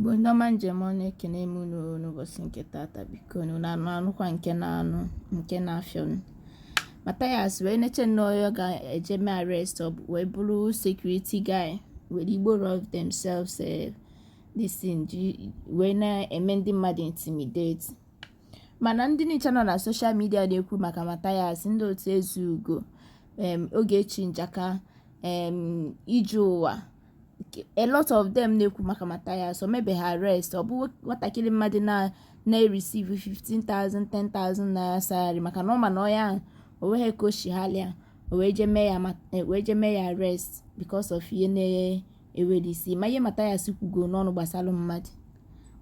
Igbo ndị ọma m ji eme ọnụ ekene m unu n'ụbọchị nke tata biko unu na-anụkwa nke na-anụ nke na-afịọnụ Mathias wee nechaa nnọọ onye ọ ga-eje mee arrest wee bụrụ security guy were igbo rob themselves eh, this thing wee na-eme ndị mmadụ intimidate mana ndị nicha nọ na soshal midia na-ekwu maka Mathias ndị otu Ezeugo Ogechi Njaka Ije Ụwa a lot of them na-ekwu maka Mathias o mebeghị ha arrest ọ bụ nwatakịrị mmadụ na na-receive 15,000 10,000 naira salary maka na ọ ma na onye ahụ o nweghị ka o si halịa o wee je mee ya e, wee je mee ya arrest because of ihe na-enweghị isi ma ihe Mathias kwugo n'ọnụ gbasara mmadụ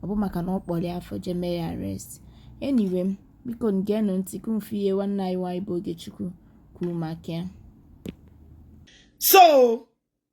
ọ bụ maka na ọ kpọrọ ya afa o je mee ya arrest anyway biko ngeenụ ntị ka unu fụ ihe nwanne anyị nwaanyị bụ Ogechukwu kwuru maka ya so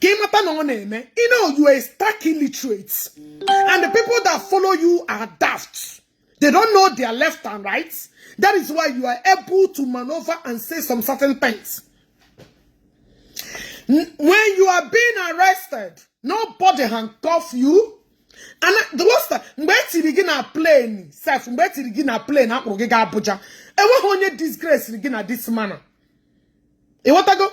ka ịmata na ọ na-eme you know you are stark illiterate and the people that follow you are daft they don't know their left and right that is why you are able to maneuver and say some certain things when you are being arrested nobody handcuff you and the worst mgbe etiri gị na plane sef mgbe etiri gị na plane akpụrụ gị ga Abuja enweghị onye disgrace gị na this manner ịghọtago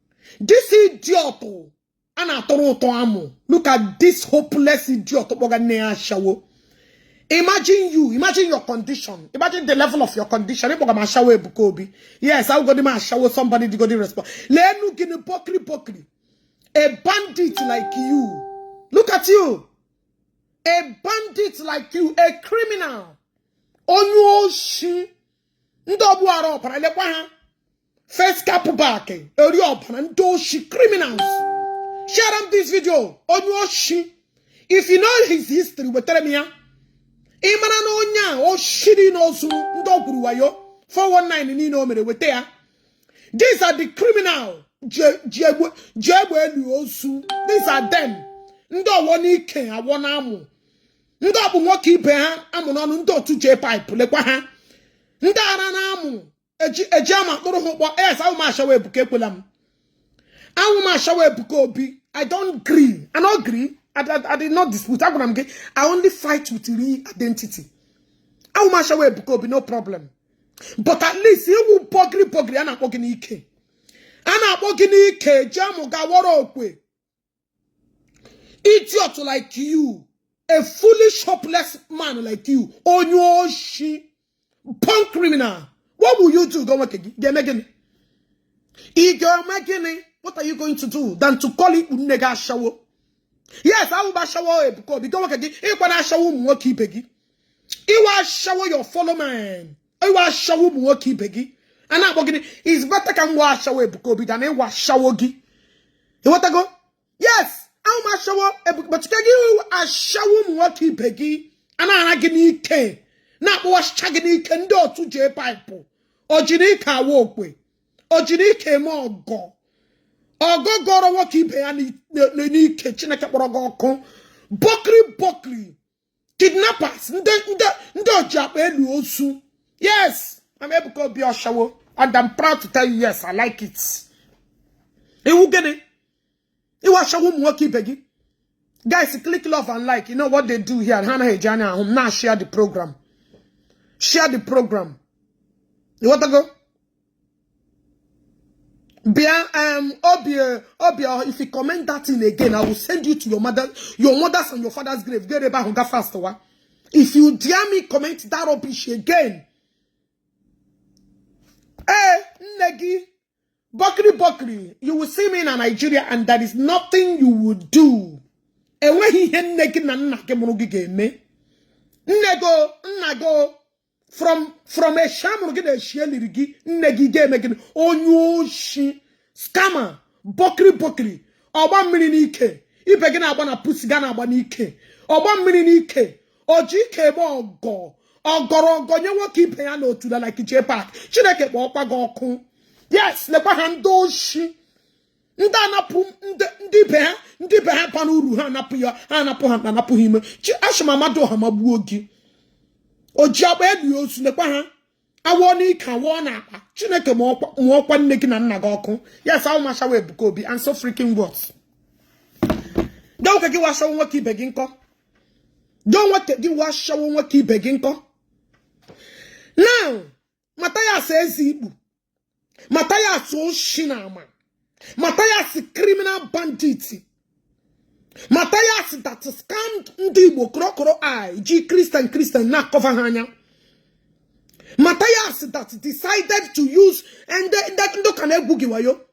this idiot a na-atụrụ ụtọ amụ look at this hopeless idiot kpọga nne ya ashawo imagine you imagine your condition imagine the level of your condition ịkpọga m ashawo Ebuka Obi yes awụgodi m ashawo somebody digodi respond leenu gịnị bokri bokri a bandit like you look at you a bandit like you a criminal onye oshi ndị ogbu ara ọbara lekwa ha face cap back eri ọbara ndị oshi criminals share am this video onye oshi if you know his history wetara m ya ị mara na onye a oshi dị n'ozu ndị o gwuru wayo 419 niile o mere weta ya these are the criminal ji egbe elu ozu these are them ndị ọwọ n'ike awọ n'amụ ndị obu nwoke ibe ha amụ n'ọnụ ndị otu J-pipe lekwa ha ndị ara n'amụ eji amụ akpụrụ ha ụkpọ yes awụ m ashawo Ebuka ekwela m awụ m ashawo Ebuka Obi I don agree i no agree I, I, I did not dispute agwara m gị i only fight with real identity awụ m ashawo Ebuka Obi no problem but at least ịwụ bọgiri bọgiri a na-akpọ gị n'ike a na-akpọ gị n'ike eji amụ gawọrọ okwe idiot like you a foolish hopeless man like you onye oshi punk criminal what will you do ị ga-eme gịnị ị ga-eme gịnị what are you going to do than to call ikpu nne gị ashawo yes awụ m ashawo ebuka obi gị nwoke gị ịkwa na ashawo ụmụ nwoke ibe gị ị wụ ashawo your follow man ị wụ ashawo ụmụ nwoke ibe gị a na-akpọ gịnị it's better ka m wụ ashawo Ebuka Obi than ịwụ ashawo gị ịghọtago yes awụ m ashawo Ebuka chike gị ashawo ụmụ nwoke ibe gị a na-ara gị n'ike na-akpọwachicha gị n'ike ndị otu jee paịpụ ojiri ike awa okwe ojiri ike eme ọgọ ọgọ gọrọ nwoke ibe ya n'ike Chineke kpọrọ gị ọkụ bọkri bọkri kidnappers ndị ndị ndị oji akpa eli ozu yes I'm Ebuka Obi ashawo and I'm proud to tell you yes I like it ị wụ gịnị ị wụ ashawo ụmụ nwoke ibe gị guys click love and like you know what they do here ha anaghị eji anya ahụ m now share the program share the program ịghọtago Bịa, um, Obi, uh, Obi, uh, if you comment that thing again, I will send you to your mother, your mother's and your father's grave. Get about hunger fast, wa. If you dare me comment that rubbish again, eh, nne gị, bokri bokri, you will see me in Nigeria and there is nothing you will do. Enweghị ihe nne gị na nna gị mụrụ gị ga-eme. Nne gị o, nna gị o, from from eshi amụrụ gị na eshi eliri gị nne gị ga-eme gịnị onye oshi scammer bọkiri bọkiri ọgba mmiri n'ike ibe gị na-agba na pussy gị ana-agba n'ike ọgba mmiri n'ike oji ike eme ọgọ ọgọrọ ọgọ nye nwoke ibe ya n'otula like Jay Park chineke kpọọkwa gị ọkụ yes lekwa ha ndị oshi ndị anapụ ndị be ha ndị be ha ba n'uru ha anapụ ya ha anapụ ha na anapụ ha ime chi ashị m Amadịọha magbuo gị oji akpa eli ozu lekwa ha awụọ n'ike awụọ n'akpa chineke kpọọkwa nne gị na nna gị ọkụ yes awụ m ashawo ebuka obi and so freaking what dọ nwoke gị wụ ashawo nwoke ibe gị nkọ dọ nwoke gị wụ ashawo nwoke ibe gị nkọ now Mathias eze ikpu Mathias oshi na ama Mathias criminal bandit Mathias that scammed ndị Igbo korokoro eye ji Christian Christian na-acover ha anya Mathias that decided to use ndị ụka na-egwu gị wayo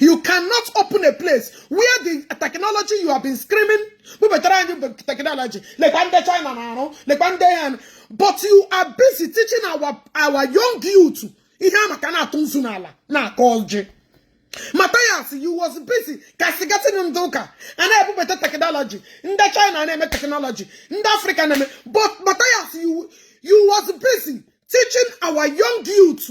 you cannot open a place where the technology you have been screaming bubatara anyị technology lekwa ndị china na-arụ lekwa ndị ya but you are busy teaching our, our young youth ihe a maka na-atụ nzu n'ala na-agọ ọjị Matthias you was busy castigating ndị ụka a na-ebubata technology ndị china na-eme technology ndị africa na-eme but Matthias you, you was busy teaching our young youth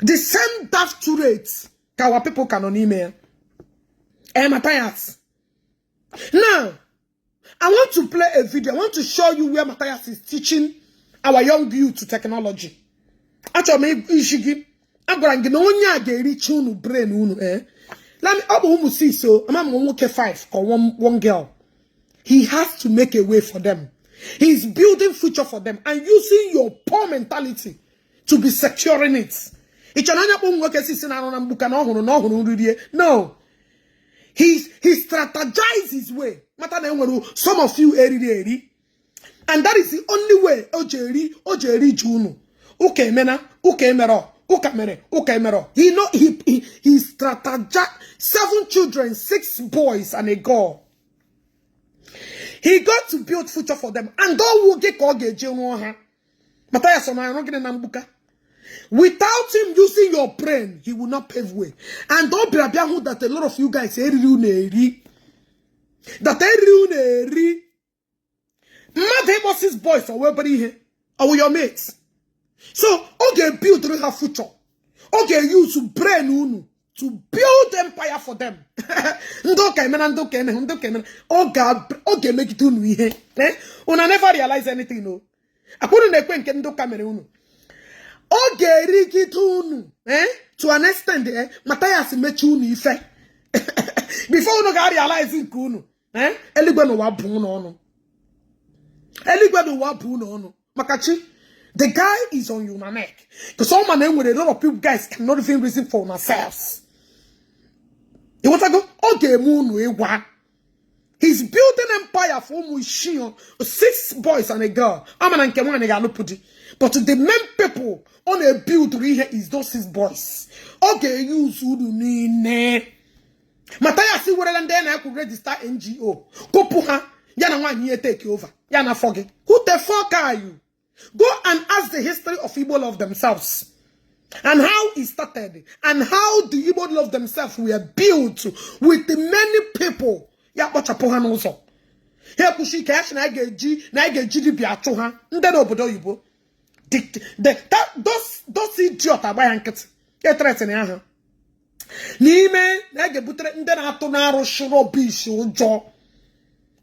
the same daft rate ka our people ka nọ n'ime ya eh Matthias now I want to play a video I want to show you where Matthias is teaching our young youth to technology achọrọ m isi gị agwara gị na onye a ga-ericha unu brain unu eh ọ bụ ụmụ six o ama m nwoke five ka one girl he has to make a way for them he's building future for them and using your poor mentality to be securing it i che na onye kpọ nwoke six na-arụ na mgbuka na ọ hụrụ na ọ hụrụ nri rie no he he strategizes his way mata na e nwere some of you eriri eri and that is the only way o ji eri o ji eri ji unu ụka emena ụka emerọ ụka mere ụka emerọ he know he he, he strategize seven children six boys and a girl he got to build future for them and ọ wụ gị ka ọ ga-eji rụọ ha Matthias ọ na-arụ gịnị na mgbuka without him using your brain he will not pave way and ọ bịara bịa hụ that a lot of you guys e riri unu eri that e riri unu eri mmadụ ịkpọ six boys ọ wụ obere ihe ọ wụ your mates so ọ ga-ebuild ha future ọ ga-euse brain unu to build empire for them ndị ụka emena ndị ụka emehụ ndị ụka emena ọ ga-emegide unu ihe eh? unu never realize anything o akwụrụ na-ekwu nke ndị ụka mere unu ọ ga-erigide unu eh? to an extent eh? Mathias mechi unu ife before unu ga-realize nke unu ee eh? eluigwe na ụwa bụ ụlọ unu eluigwe na ụwa bụ ụlọ unu maka chi the guy is on your neck because ọ ma na e nwere a lot of people guys cannot even reason for ourselves ị ghọtago ọ ga-eme unu ịgwa he's building empire for ụmụ isii six boys and a girl a ma na nke nwaanyị ga-alụpụ di but the main people ọ na-ebuildụrụ ihe is those six boys ọ ga-euse unu niile Mathias werela ndị na akwụ register NGO kụpụ ha ya na nwaanyị ya etake over ya na afọ gị who the fuck are you go and ask the history of Igbo love themselves and how it started and how the Igbo love themselves were built with many people ya kpọchapụ ha n'ụzọ ha ekwuchi ike ya sị na anyị ga-eji na anyị ga-eji dibịa achụ ha ndị nọ obodo oyibo those idiot agba ya nkịtị ethreatenịa ha n'ime na a ga-ebutere ndị na-atụ na-arụsị rubbish ụjọ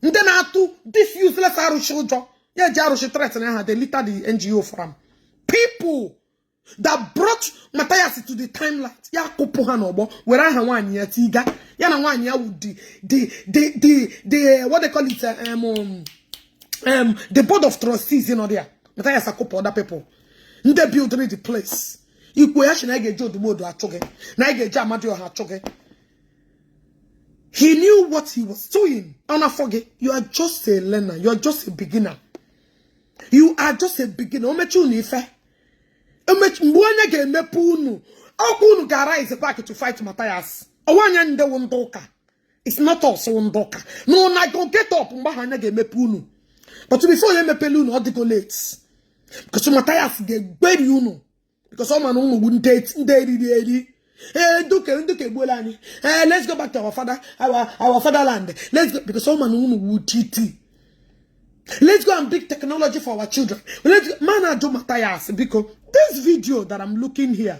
ndị na-atụ this useless arụsị ụjọ ya eji arụsị threaten ha elita the NGO from people that brought Matthias to the timelight ya kụpụ ha n'ọgbọ were aha nwaanyị ya tiga ya na nwaanyị ya wụ the the the the the what they call it um, um, um the board of trustees nọ there Matthias akụpụ other people ndị buildiri the place i kwuo ya sị na anyị ga-eji odumodu achụ gị na anyị ga-eji amadioha achụ gị he knew what he was doing ọ na-afọ gị you are just a learner you are just a beginner you are just a beginner o mechi unu ife mgbe anya ga-emepe unu ka unu ga-arise back to fight Matthias ọ wụ anyị ndị wụ ndị ụka it's not us ndị ụka na una go get up mgbe ahụ anya ga-emepe unu but before ya emepele unu ọ dịgo late because Mathias ga-egberi unu because ọ ma na unu wụ ndị eriri eri ee ndị ụka ndị ụka egbuola anyị ee let's go back to our father our our fatherland let's go because ọ ma na unu wụ iti let's go and bring technology for our children let's go m na-ajụ Mathias biko this video that I'm looking here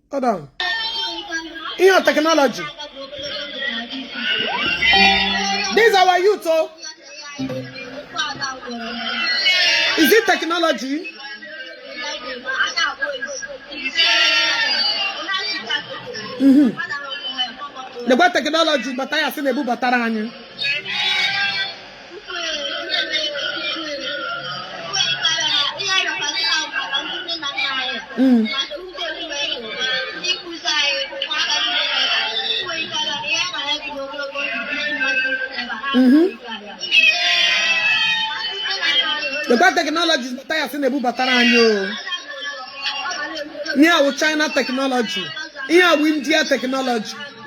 ihe technology these our youth o oh. is it technology mm-hmm. lekwa technology Matthias na-ebubatara anyị Mm. Mm-hmm. Lekwa technology Matthias na-ebubatara anyị o ihe a wụ China technology ihe a wụ India technology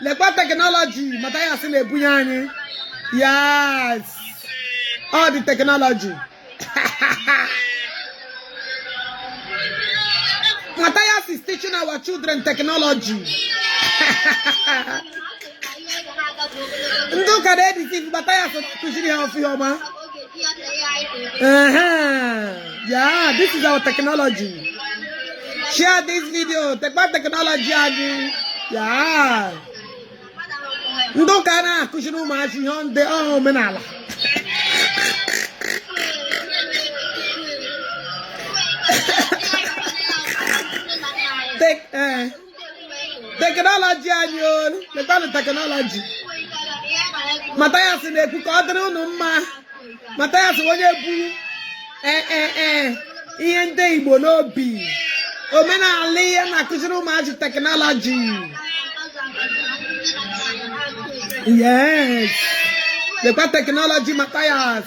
lekwa technology Matthias na-ebunye anyị yes ụdị technology Matthias is teaching our children technology. ndị ụka na-editi Matthias kụziri ha ọfụma yeah this is our technology share this video lekwa technology anyị yeah ndị ụka na-akụziri ụmụazị ihe ndị ọha omenala Take, uh, teknọlọji anyị o letanụ teknọlọji Matthias na-ekwu ka ọ dịrị unu mma Matthias wụ onye bu ee e, e, ihe ndị igbo n'obi omenala ihe na-akụziri ụmụazị teknọlọji yes lekwa teknọlọji Matthias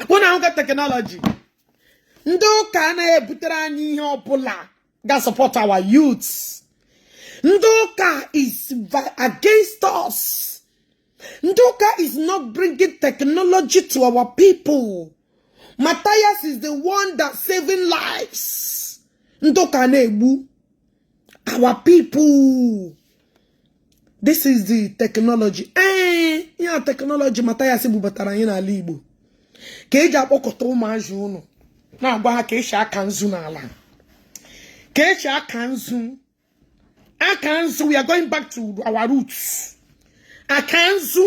ekwu unu ahụkwa teknọlọji ndị ụka anaghị ebutere anyị ihe ọbụla ga support our youth ndị ụka is against us ndị ụka is not bringing technology to our people Matthias is the one that saving lives ndị ụka na-egbu our people this is the technology ee eh, yeah teknọlọji Matthias bubatara anyị n'ala Igbo ka eji akpọkọta ụmụazị ọnụ na-agwa ha ka esi aka nzu n'ala ka esi aka nzu aka nzu we are going back to our roots aka nzu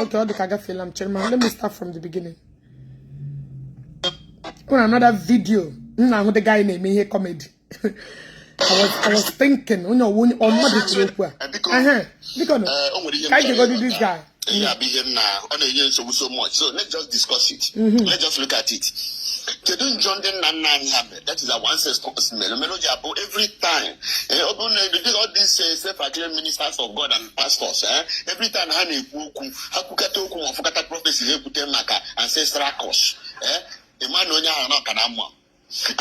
Okay, ọ dị ka agafeela m chairman. Let me start from the beginning. On another video, m na-ahụ the guy na-eme ihe comedy. I was I was thinking, onye ọ wụ onye ọ mmadụ kwuru okwu a. Biko, o nwere ihe m chọrọ ịgwa. Ka anyị jegodi this guy. ihe a bụ ihe na na-enye nsogbu so much so let's just discuss it mm-hmm. let's just look at it kedu njọ ndị nna nna anyị ha mere that is our ancestors mere mere o ji abụ every time eh, ọ bụrụ na ebido all these eh, self acclaimed ministers of God and pastors eh, every time ha na-ekwu okwu ha kwukata okwu ma ọ fụkata prophecy ha ekwute maka ancestral curse ịma na onye ahụ na ọka na mma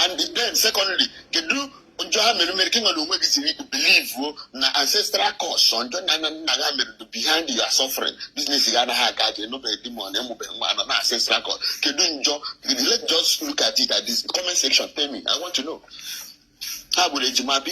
and then secondly kedu njọ ha mere mere ka gị n'onwe gị jiri believe na ancestral curse njọ na nna nna gị ha mere behind your suffering business gị anaghị aga aga ị nụbeghị di ma ọ na ị mụbe nwa nọ na ancestral curse kedu njọ let's just look at it at this comment section tell me i want to know ha gburu ejima bi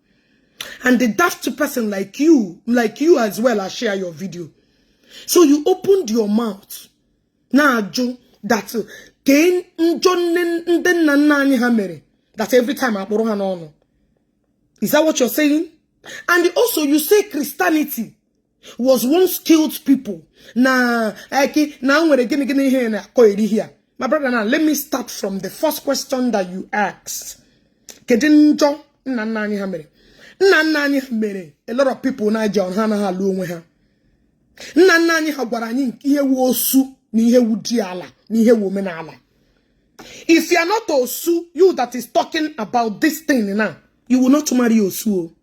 and the daft person like you as well I share your video so you opened your mouth na-ajụ that kee njọ ndị nna nna anyị ha mere that every time a kpụrụ ha n'ọnụ is that what you're saying and also you say Christianity was once killed people na eki eh, na nwere gịnị gịnị ihe ị na-akọheri here my brother now let me start from the first question that you asked kedu njọ nna nna anyị ha mere nna nna anyị ha mere a lot of people njọ ha anaghị alụ onwe ha nna nna anyị ha gwara anyị ihe wu osu na ihe wu diala na ihe wu omenala if you are not osu you that is talking about this thing now you will not marry osu o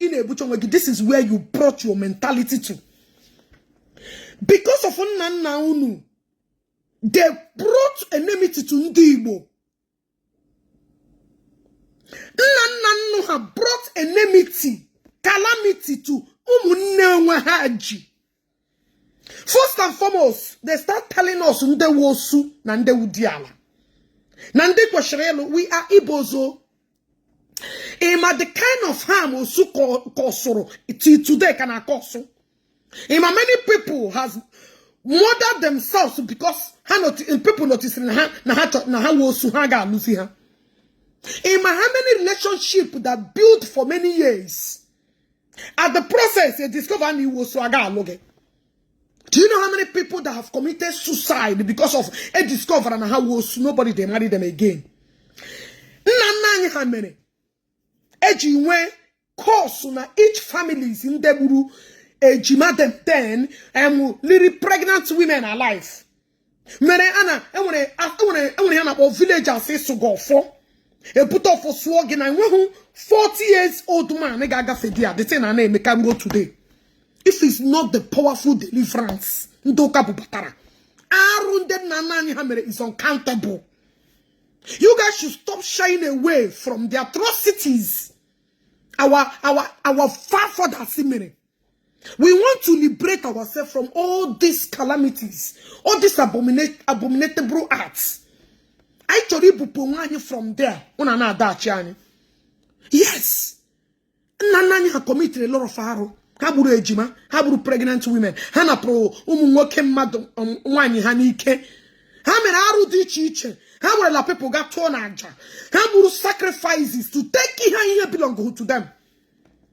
ị na-ebucha onwe gị this is where you brought your mentality to because of nna nna unu they brought enmity to ndị Igbo nna nna unu ha brought enmity calamity to ụmụnne onwe ha ji first and foremost they start telling us ndị wu osu na ndị wu diala na ndị kwesịrị ịlụ we are ibozo ị ma the kind of harm osu kọsụrụ till today ka na-akọsụ ị ma many people has murdered themselves because ha people noticiri na ha na ha na ha wu osu ha ga-alụzi ha ị ma how many relationship that built for many years at the process e discover na ị wu osu a ga-alụ gị do you know how many people that have committed suicide because of e discover na ha wu osu nobody dey marry them again nna nna anyị ha mere e ji nwee curse na each families ndị gburu ejima them ten um, liri pregnant women alive mere a na e nwere e nwere e nwere ihe a na-akpọ village a sị ịsụ gị ọfọ e bute ọfọ sụọ gị na e nweghị 40 years old man ga-agafe there the thing a na-eme ka ruo today if it's not the powerful deliverance ndị ụka bubatara arụ ndị nna nna anyị ha mere is uncountable you guys should stop shying away from the atrocities our our our forefathers mere We want to liberate ourselves from all these calamities, all these abominate, abominable acts. Anyị chọrọ ibupụ onwe anyị from there unu a na-adachi anyị yes nna nna anyị ha committed a lot of arụ ha gburu ejima ha gburu pregnant women ha napụrụ ụmụ nwoke mmadụ um, nwaanyị ha n'ike ha mere arụ dị iche iche ha werela people gaa chụọ na aja ha gburu sacrifices to take ihe ihe belong to them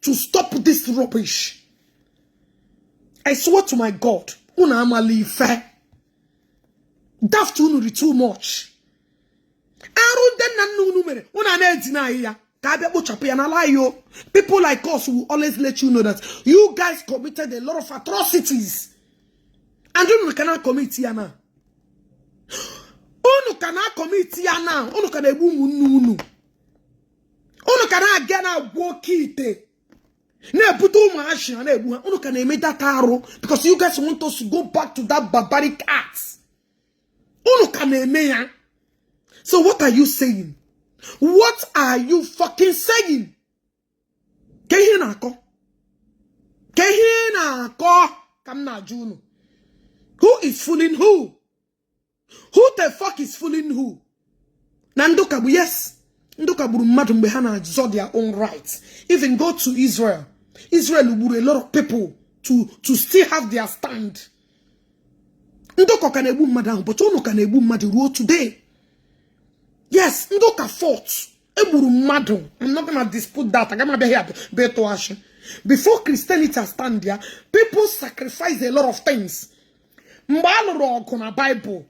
to stop this rubbish i swear to my god unu amala ife daft unu rị too much arụ ndị nna nna unu mere unu a na-edeny ya ka a bịa kpochapụ ya n'ala anyị o people like us will always let you know that you guys committed a lot of atrocities and unu ka na-akọmiti ya now unu ka na-akọmiti ya now unu ka na-egbu ụmụnne unu unu ka na-aga na-agwọ okeite na-ebute ụmụ ashị ha na-egbu ha unu ka na-eme that arụ because you guys want us to go back to that barbaric acts unu ka na-eme ya so what are you saying what are you fucking saying kee ihe ị na-akọ kee ihe ị na-akọ ka m na-ajụ unu who is fooling who who the fuck is fooling who na ndị ụka gbu yes ndị ụka gburu mmadụ mgbe ha na-azọ their own right even go to Israel Israel gburu a lot of people to to still have their stand ndị ụka ka na-egbu mmadụ ahụ but ụnụ ka na-egbu mmadụ ruo today yes ndị ụka fought egburu mmadụ I'm not gonna dispute that agaghị m abịa here bịa tụọ asị before Christianity stand ya people sacrifice a lot of things mgbe a lụrụ ọgụ na baịbụl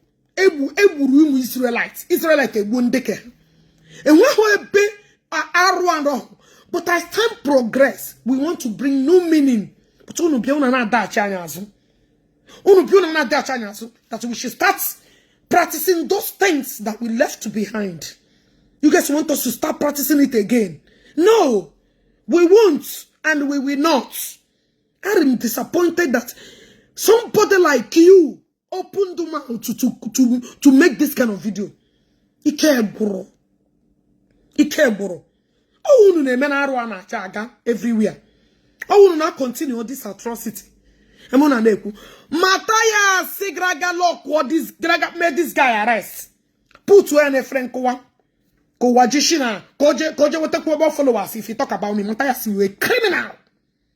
egburu ụmụ Israelite Israelite egbuo ndị ke enweghị ebe arụ arụ but as time progress we want to bring new meaning but unu bịa unu na-adọghachi anyị azụ unu bịa unu na-adọghachi anyị azụ that we should start practicing those things that we left behind you guys want us to start practicing it again no we won't and we will not I am disappointed that somebody like you opened the mouth to, to, to, to make this kind of video. Ike gwụrụ. Ike gwụrụ. Ọ wụ unu na-eme na arụ a na-acha aga everywhere. Ọ wụ unu na-continue this atrocity. Emu na na-ekwu. Matthias gara ga lock or this gara ga mee this guy arrest. Put where na efere nkụwa. Ka ụwa ji shi na ka o je nwetakwu ebe followers if you talk about me. Matthias you're a criminal.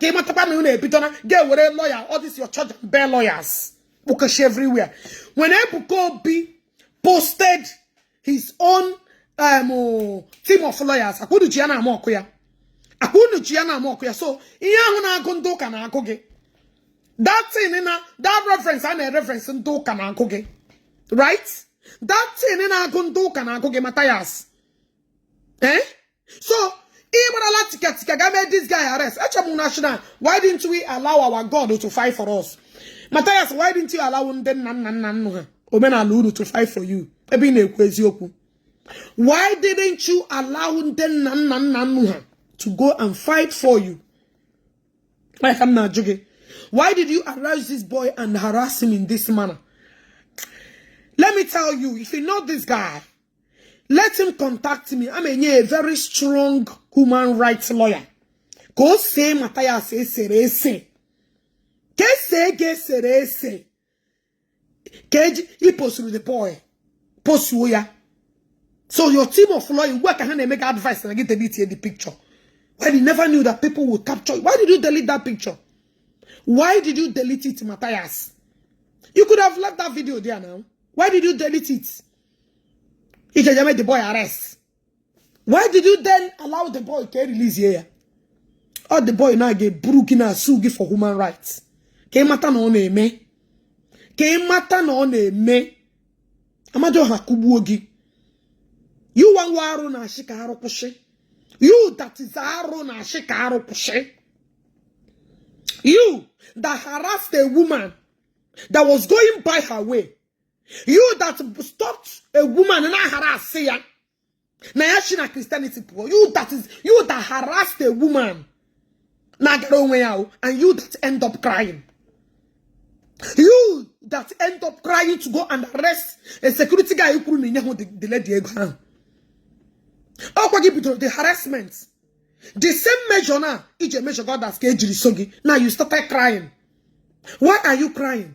ka ị matakwa na unu ebidola ga-ewere lawyer all this your charge and bail lawyers kpụkashi everywhere when Ebuka Obi posted his own um, team of lawyers ọkwa unu ji ya na-amock ya ọkwa unu ji ya na-amock ya so ihe ahụ na-agụ ndị ụka na-agụ gị that thing na that reference a na-ereference ndị ụka na-agụ gị right that thing na-agụ ndị ụka na-agụ gị Matthias eh so ị marala tikatika ga mee this guy arrest echebụ national why didn't we allow our god to fight for us Matthias why didn't you allow ndị nna nna nna unu ha omenala unu to fight for you ebe ị na-ekwu eziokwu why didn't you allow ndị nna nna nna unu ha to go and fight for you like m na-ajụ gị why did you arrest this boy and harass him in this manner let me tell you if you know this guy let him contact me ama enye a very strong human rights lawyer ka o see mata ya ase esere ese ka esee ga esere ese ka eji iposuru the boy posuo ya so your team of lawyer ugbu a ka ha na-eme gị advice na gị delete the picture why you never knew that people will capture you why did you delete that picture why did you delete it Matthias you could have left that video there now why did you delete it ị je je mee the boy arrest why did you then allow the boy ka e release ya ọ the boy na-aga eburu gị na-asue gị for human rights ka ị mata na ọ na-eme ka ị mata na ọ na-eme Amadioha kụgbuo gị you wụ nwa arụ na-asị ka arụ kwụsị you that is arụ na-asị ka arụ kwụsị You that harassed a woman that was going by her way you that stopped a woman na harass ya na ya shi na Christianity pụọ you that is you that harassed a woman na-agara onwe ya o and you that end up crying you that end up crying to go and arrest a security guy kwuru na inyeghụ the lady ego ahụ ọkwa gị bidoro the harassment the same measure na iji measure others ka ejiri so gị now you started crying why are you crying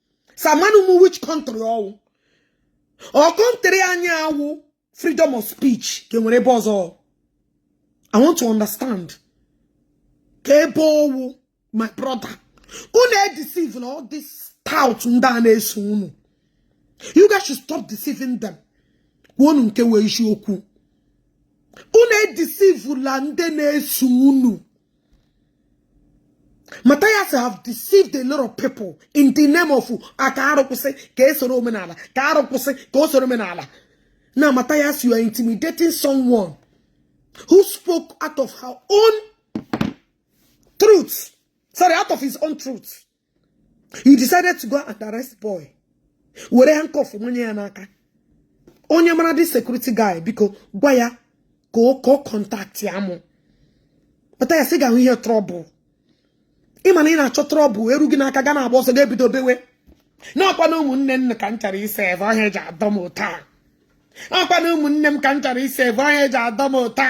samanụ m which country ọ wụ ọ country anyị a wụ freedom of speech ka enwere ebe ọzọ i want to understand ka ebe ọ wụ my brother unu edeceivela all this tout ndị a na-eso unu you guys should stop deceiving them kwuonụ nke wụ eziokwu unu edeceivela ndị na-eso unu Matthias have deceived a lot of people in the name of a ka arụkwụsị ka esoro omenala ka arụkwụsị ka o soro omenala now Matthias you are intimidating someone who spoke out of her own truth sorry out of his own truth you decided to go and arrest boy were handcuff manye ya n'aka onye mara the security guy biko gwa ya ka ọ contactịa mụ Mathias ị ga-ahụ ihe trouble ị ma na ị na-achọ trouble eru gị n'aka ga na-agba ọsọ ga-ebido bewe n'ọkwa na ụmụnne m ka m chọrọ ise ebe ọhịa eji adọ m ụta n'ọkwa na ụmụnne m ka m chọrọ ise ebe ọhịa eji adọ m ụta